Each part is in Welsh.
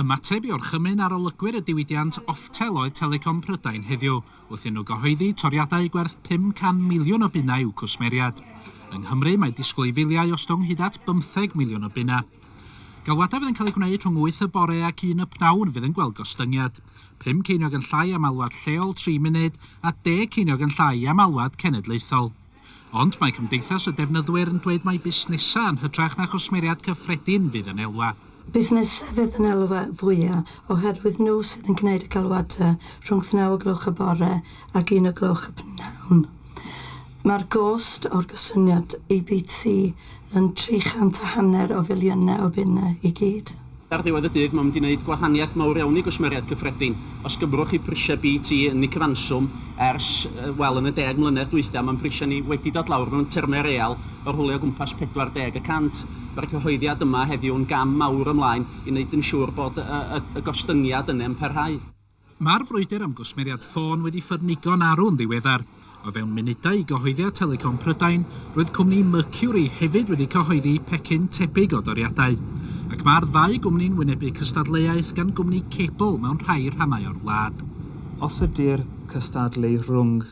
Ymateb i orchymyn arolygwyr y diwydiant Oftel oedd Telecom Prydain heddiw, wrth i nhw gyhoeddi toriadau gwerth 500 miliwn o bunnau i'w cwsmeriaid. Yng Nghymru, mae disgwyl i filiau ostwng hyd at 15 miliwn o bunnau. Galwadau fydd yn cael eu gwneud rhwng 8 y bore ac 1 y pnawn fydd yn gweld gostyngiad. 5 ceiniog yn llai am alwad lleol 3 munud a 10 ceiniog yn llai am alwad cenedlaethol. Ond mae Cymdeithas y Defnyddwyr yn dweud mai busnesau yn hytrach na chwsmeriaid cyffredin fydd yn elwa. Busnesau fydd yn elwa fwya oherwydd nhw sydd yn gwneud y galwadau rhwngth naw o gloch y bore ac un o gloch y p'nawn. Mae'r gost o'r gosyniad i BT Yn tri chant a hanner o filiynau o bunnau i gyd. Ar ddiwedd y dydd, mae'n mynd i wneud gwahaniaeth mawr iawn i gwsmeriaid cyffredin. Os gymrwch chi prisiau BT yn y cyfanswm ers, wel, yn y deg mlynedd dwytha, mae'n prisiau ni wedi dod lawr mewn termau real o rhwle o gwmpas 40 y cant. Mae'r cyhoeddiad yma heddiw yn gam mawr ymlaen i wneud yn siŵr bod y gostyngiad yne'n parhau. Mae'r frwydr am gwsmeriad ffôn wedi ffyrnigo'n arw'n ddiweddar. O fewn munudau i gyhoeddiad Telecom Prydain, roedd cwmni Mercury hefyd wedi cyhoeddi pecyn tebyg o doriadau. Ac mae'r ddau gwmni'n wynebu cystadleuaeth gan gwmni cebl mewn rhai rhannau o'r wlad. Os ydy'r cystadlu rhwng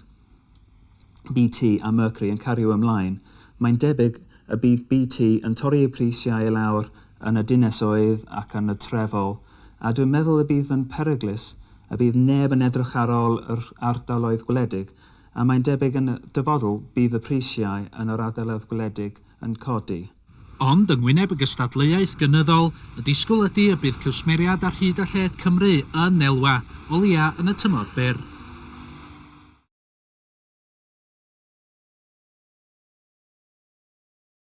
BT a Mercury yn cario ymlaen, mae'n debyg y bydd BT yn torri eu prisiau i lawr yn y dinasoedd ac yn y trefol, a dwi'n meddwl y bydd yn peryglus, y bydd neb yn edrych ar ol yr ardaloedd gwledig, a mae'n debyg yn y dyfodl bydd y prisiau yn yr ardaloedd gwledig yn codi. Ond, yng ngwyneb y gystadleuaeth gynyddol, y disgwyl ydy y bydd cwsmeriaid ar hyd a lled Cymru yn elwa o leia yn y tymor byr.